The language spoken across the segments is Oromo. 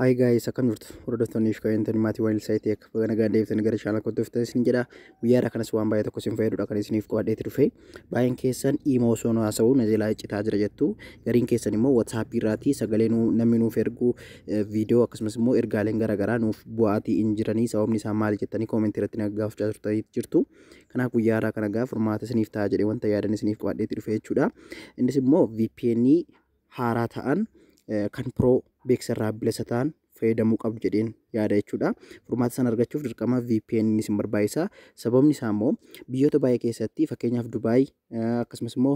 Hi guys, akkam jirtu? Hordoftoonni fi kabajamtoonni maatii waan ilsaa ta'e akka baga nagaan deebitan gara chaanal kootti dhuftan isin jedha. Guyyaa irraa kanas waan baay'ee tokko isin fayyadudha kan isiniif qabadheeti dhufe. Baay'een keessan imoo osoo nu haasa'u na jalaa iccitaa jira jettu. Gariin keessan immoo WhatsApp irraati sagalee nu namni nuuf ergu viidiyoo akkasumas immoo ergaaleen garaagaraa nuuf bu'aatii hin jiranii sababni isaa maal jettanii koomentii irratti na gaafachaa turtanii jirtu. Kanaaf guyyaa irraa kana gaaf furmaata isiniif ta'a jedhee wanta yaadan isiniif qabadheeti dhufe jechuudha. Innis immoo VPN haaraa ta'an kan pro beeksisa irraa bilisa ta'an fayyadamuu qabdu jedheen yaada jechuudha. Furmaata sana argachuuf dirqama VPN ni isin barbaachisa. Sababni isaa immoo biyyoota baay'ee keessatti fakkeenyaaf Dubaay akkasumas immoo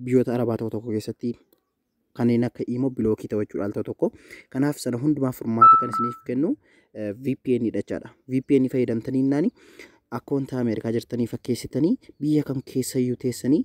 biyyoota Arabaa tokko tokko keessatti kanneen akka imoo bilookii ta'u jechuudha al tokko. Kanaaf sana hundumaa furmaata kan isiniif kennu VPN dha jechaadha. VPN fayyadamtanii naani akkoontaa Ameerikaa jirtanii fakkeessitanii biyya kam keessayyuu teessanii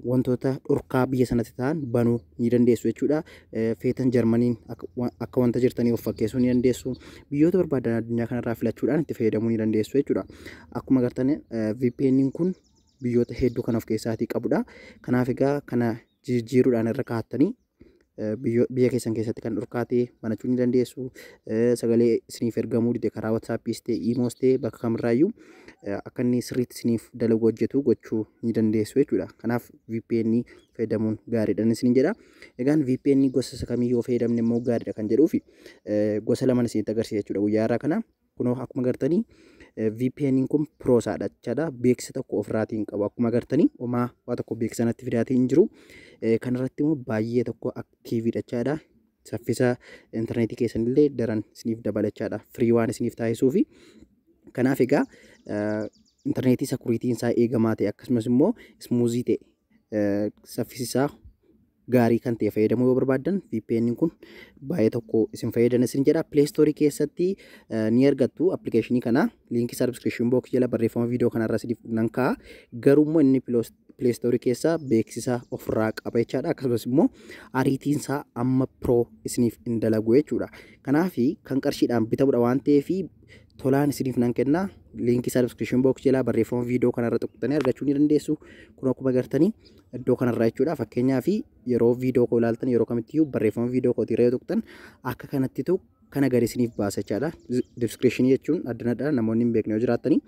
wantoota dhorkaa biyya sanatti ta'an banuu ni dandeessu jechuudha. Feetan Jarmaniin akka wanta jirtanii of fakkeessuu ni dandeessu. Biyyoota barbaadan addunyaa kanarraa filachuudhaan itti fayyadamuu ni dandeessu jechuudha. Akkuma agartan VPN kun biyyoota hedduu kan of keessaatii qabudha. Kanaaf egaa kana jijjiiruudhaan irra kaa'attanii biyya keessan keessatti kan dhorkaate banachuu ni dandeessu. Sagalee isiniif ergamuu dide karaa WhatsAppis ta'e iimoos ta'e bakka kamirraayyuu akka inni sirriitti isiniif dalagu hojjetu gochuu ni dandeessu jechuudha. Kanaaf VPN fayyadamuun gaariidhaan isin jedha. Egaan VPN gosa isa kamii yoo fayyadamne immoo gaariidha kan jedhuufi gosa laman isinitti agarsiisa jechuudha guyyaa irraa kana. Kunoo akkuma gartanii VPN kun piroosaadha jechaadha. Beeksisa tokko ofirraatii hin qabu. Akkuma gartanii homaa waa tokko beeksisa natti fidaatii hin jiru. Kanarratti immoo baay'ee tokko aktiiviidha jechaadha. Saffisa intarneetii keessanillee daran isiniif dabala jechaadha. Firii waan isiniif taasisuu fi kanaaf egaa intarneetii sakuriitiin isaa eegamaa ta'e akkasumas immoo ismuuzii ta'e saffisisaa gaarii kan ta'e fayyadamuu yoo barbaaddan VPN kun baay'ee tokko isin fayyadana isin jedha Play Store keessatti ni argattu appilikeeshinii kana liinkii isaa description box jala barreeffama viidiyoo kanarra isiniif nan kaa'a garuu immoo inni Play Store keessa beeksisa ofirraa qaba jechaadha akkasumas immoo ariitiin isaa amma pro isiniif hin dalagu jechuudha kanaaf kan qarshiidhaan bitamudha waan ta'eef tolaan isiniif nan kenna liinkii isaa description box jalaa barreeffama viidiyoo kanarra tuqxanii argachuu ni dandeessu kun akkuma gartanii iddoo kanarraa jechuudha fakkeenyaa fi yeroo viidiyoo koo ilaaltan yeroo kamittiyyuu barreeffama viidiyoo kootii irra yoo tuqxan akka kanatti tu kana gadi isiniif baasa jechaadha description jechuun addanadha namoonni hin beekne yoo jiraatanii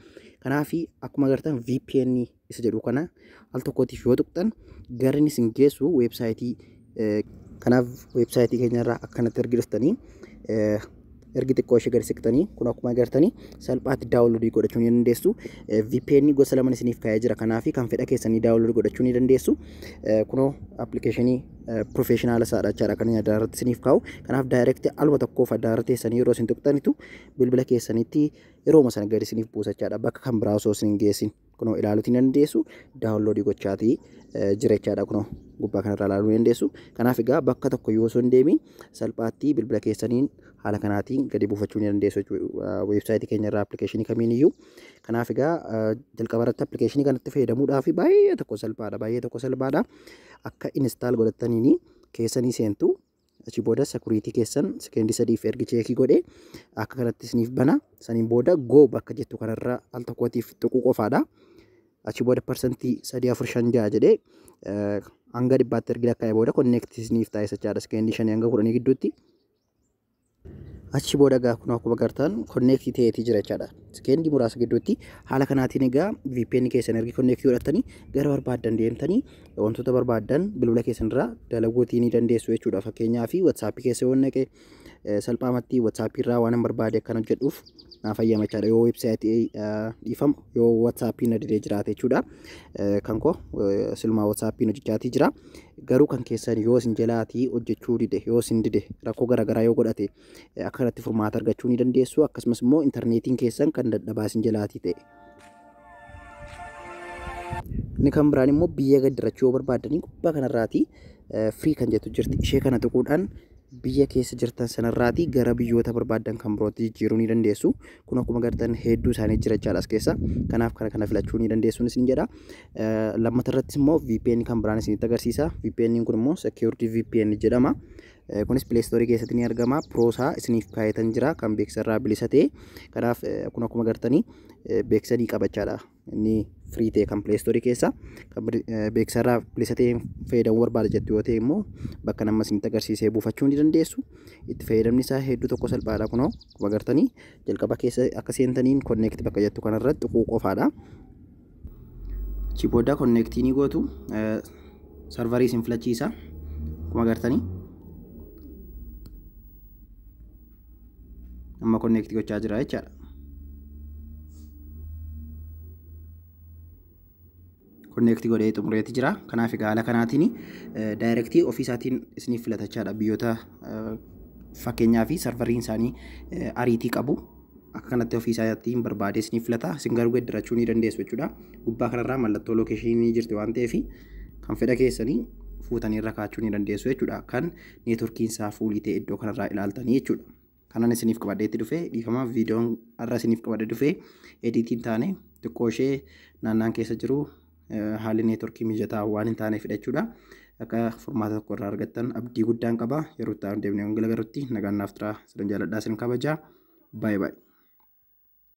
kanaafi akkuma gartan VPN isa jedhu kana al tokkootiif yoo tuqxan gareen isin geessu weebsaayitii kanaaf weebsaayitii keenyarraa akkanatti ergi dhuftanii ergi xiqqoo ishee gadi siqtanii kun akkuma agartanii salphaatti daawunloodii godhachuu ni dandeessu. VPN gosa laman isiniif kaa'ee jira kanaaf kan fedha keessanii daawunloodii godhachuu ni dandeessu. Kunoo appilikeeshinii pirofeeshinaala isaadha jechaadha kan inni addaarratti isiniif kaa'u. Kanaaf daayirekti aluma tokkoof addaarra teessanii yeroo isin tuqxanitu bilbila keessanitti yerooma sana gadi isiniif buusa jechaadha bakka kan biraa osoo isin hin geessin. kunoo ilaaluutiin dandeessu daawunloodii gochaatii jirechaadha kunoo gubbaa kanarraa ilaaluu dandeessu. Kanaaf egaa bakka tokko yoo osoo hin deemiin salphaatti bilbila keessaniin haala kanaatiin gadi buufachuu ni dandeessu jechuudha. Weebsaayitii keenya irraa appilikeeshinii kamiin iyyuu. Kanaaf egaa jalqaba irratti appilikeeshinii kanatti fayyadamuudhaaf baay'ee tokko salphaadha. Baay'ee tokko salphaadha. Akka instaal godhattaniin keessanii seentu Achi booda security keessan sekeendii sadiif ergi cheekii godhe akka kanatti isiniif bana. Saniin booda go bakka jettu kanarra al tokkootiif tuquu qofaadha. Achi booda parsantii sadii afur shan ja'a jedhee eh, hanga dhibbaatti ergi lakkaa'e booda connect isiniif taasisa jechaadha. Sekeendii shanii hanga kudhanii gidduutti. Achi booda egaa kun akkuma gartaan konneektii ta'eetii jira jechaadha. Sekeendii muraasa gidduutti haala kanaatiin egaa VPN keessan ergi konneektii godhattanii gara barbaaddan deemtanii wantoota barbaaddan bilbila keessan irraa dalaguutii ni dandeessu jechuudha. Fakkeenyaaf WhatsApp keessa yoo naqe salphaamatti WhatsApp irraa waan barbaade akkan hojjedhuuf naa fayyama jechaadha. Yoo websaayitii dhiifamu yoo WhatsApp na didee jiraate jechuudha. Kan koo silumaa WhatsApp hojjechaatii jira. Garuu kan keessan yoo isin jalaatii hojjechuu dide, yoo isin dide, rakkoo garaagaraa yoo godhate akka kanatti furmaata argachuu ni dandeessu. Akkasumas immoo intarneetiin keessan kan dadhabaa isin jalaatii ta'e. Inni kan biraan immoo biyya gaddirachuu yoo barbaaddanii gubbaa kanarraatii firii kan jettu jirti. Ishee kana tuquudhaan biyya keessa jirtan sanarraatii gara biyyoota barbaaddan kan birootti jijjiiruu ni dandeessu. Kun akkuma gartan hedduu isaanii jira jechaadha as keessa. Kanaaf kana kana filachuu ni dandeessuun isin jedha. Lammata irrattis immoo VPN kan biraan isinitti agarsiisa. VPN kun immoo Secured VPN jedhama. Kunis Play Store keessatti ni argama. Piroosaa isiniif kaayatan jira kan beeksisa irraa bilisa ta'e. Kanaaf kun akkuma gartanii beeksisa ni qabachaadha. inni firii ta'e kan pileestoorii keessa kan beeksisa irraa bilisa ta'een fayyadamuu barbaada jettu yoo ta'e immoo bakka nama isinitti agarsiisee buufachuu ni dandeessu. Itti fayyadamni isaa hedduu tokko salphaadha kunoo akkuma agartanii jalqaba keessa akka seentaniin konneekti bakka jettu kanarratti tuquu qofaadha. Achii booda konneektii ni gootu sarvarii isin filachiisa akkuma agartanii. amma konneekti gochaa jira jechaadha. konneekti godhee xumureeti jira. Kanaaf egaa haala kanaatiin daayirektii ofii isaatiin isiniif filatachaadha biyyoota fakkeenyaa fi sarvariin isaanii ariitii qabu. Akka kanatti ofii isaatiin barbaadee isiniif filata. Isin garuu geddarachuu ni dandeessu jechuudha. Gubbaa kanarraa mallattoo lookeeshinii ni jirti waan ta'eef kan fedha keessanii fuutanii irra kaachuu ni dandeessu jechuudha. Kan networkiin isaa fuulii ta'e iddoo kanarraa ilaaltanii jechuudha. Kanan isiniif qabadhee itti dhufe dhiifama viidiyoon har'a isiniif qabadhee dhufe ediitiin taane xiqqoo ishee naannaan keessa jiru haalli networkii mijataa waan hin taaneef jechuudha. Akka furmaata tokko irraa argattan abdii guddaan qaba yeroo itti aanu deemnee wangila garutti nagaan naaf turaa sidan jaaladhaa sin kabajaa baay'ee baay'ee.